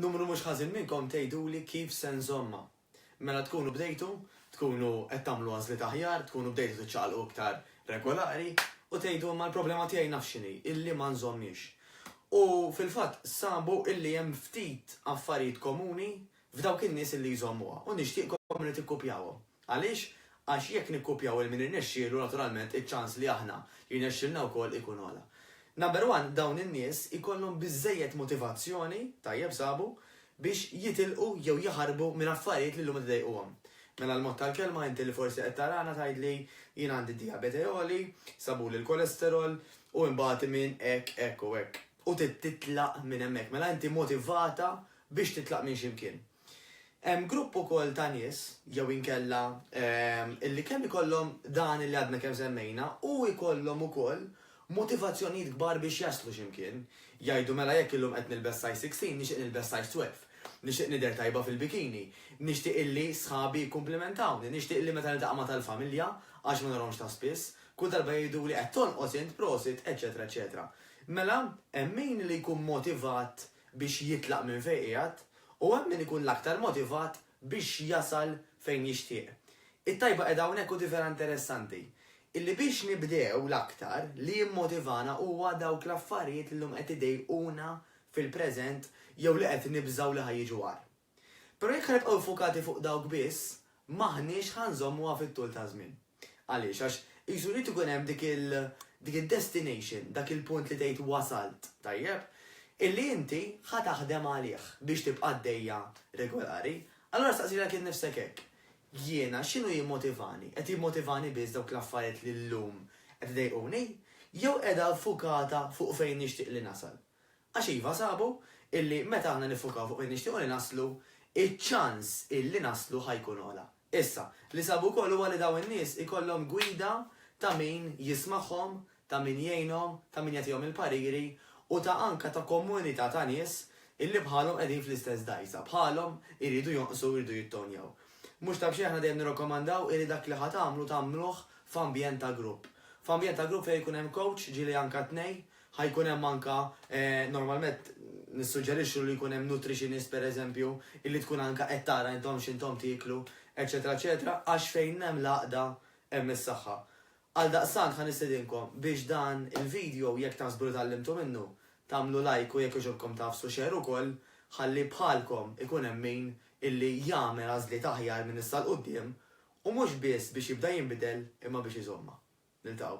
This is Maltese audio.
Numru mhux ħażin minnkom tgħiduli kif se nżommha. Mela tkunu bdejtu, tkunu qed tagħmlu għażliet aħjar, tkunu bdejtu tiċċaqalqu iktar regolari u tgħidu imma l-problema tiegħi naf x'inhi, illi ma nżommhiex. U fil-fatt sabu illi hemm ftit affarijiet komuni f'dawk in-nies li jżommuha u nixtieqkom li tikkupjawhom. Għaliex? Għax jekk nikkupjaw 'il min irnexxielu naturalment iċ-ċans li aħna jirnexxilna wkoll ikun ogħla. Number one dawn in-nies ikollhom biżżejjed motivazzjoni, tajjeb sabu, biex jitilqu jew jaħarbu minn affarijiet li llum qed idejquhom. Mela l-mod tal-kelma inti li forsi qed tarana tgħidli jien għandi dijabete għoli, sabuli l-kolesterol u imbagħad iminn hekk, hekk u hekk. u trid titlaq minn hemmhekk. Mela inti motivata biex titlaq minn xi mkien. Hemm grupp ukoll ta' nies jew inkella illi kemm ikollhom dan illi għadna kemm semmejna u jkollhom ukoll motivazzjonijiet kbar biex jaslu xi mkien. Jgħidu mela jekk illum qed nilbes size 16 nixtieq nilbes size 12. Nixtieq nidher tajba fil-bikini. Nixtieq illi sħabi jikkumplimentawni. Nixtieq illi meta niltaqa' ma' tal-familja, għax ma narahomx ta' spiss, kull darba jgħiduli qed tonqos int, prosit, eċċetera eċċetera. Mela, hemm min li jkun motivat biex jitlaq minn fejn qiegħed, u hemm min ikun l-aktar motivat biex jasal fejn jixtieq. It-tajba qiegħda hawnhekk u di vera interessanti, illi biex nibdew l-aktar li jimmotivana huwa dawk l-affarijiet li llum qed idejquna fil-preżent jew li qed nibżgħu li ħa jiġu agħar. Però jekk ħa nibqgħu ffukati fuq dawk biss, m'aħniex ħa nżommuha fit-tul taż-żmien. Għaliex? Għax qisu jrid ikun hemm dik il, dik id-destination, dak il-punt li tgħid wasalt, tajjeb, illi inti ħa taħdem għalih biex tibqa' għaddejja regolari. Allura staqsi lilek innifsek hekk, Jiena x'inhu jimmotivani? Qed jimmotivani biss dawk l-affarijiet li llum qed iḍejquni? Jew qiegħda ffukata fuq fejn nixtieq li nasal? Għax iva sabu illi meta aħna niffukaw fuq fejn nixtiequ li naslu, iċ-ċans illi naslu ħa jkun ogħla. Issa, li sabu wkoll huwa li dawn in-nies ikollhom gwida ta' min jismagħhom, ta' min jgħinhom, ta' min jagħtihom il-pariri u ta' anka ta' komunità ta' nies illi bħalhom qegħdin fl-istess dgħajsa, bħalhom iridu jonqsu u jridu jittownjaw. Mhux ta' b'xejn aħna dejjem nirrakkomandaw illi dak li ħa tagħmlu tagħmluh f'ambjent ta' grupp. F'ambjent ta' grupp fejn ikun hemm kowċ, ġieli anka tnej, Ħa jkun hemm anke, normalment nissuġġerixxu li jkun hemm nutritionist pereżempju, illi tkun anke qed tara intom x'intom tieklu, eċċetera eċċetera, għax fejn hemm l-għaqda hemm is-saħħa. Għaldaqstant ħa nistedinkom biex dan il-video jekk taħsbu li tgħallimtu minnu, tagħmlu like u jekk jogħġobkom tagħfsu share ukoll ħalli bħalkom ikun hemm min illi jagħmel għażliet aħjar minn issa 'l quddiem u mhux biss biex jibda jinbidel imma biex iżommha. Niltaqgħu.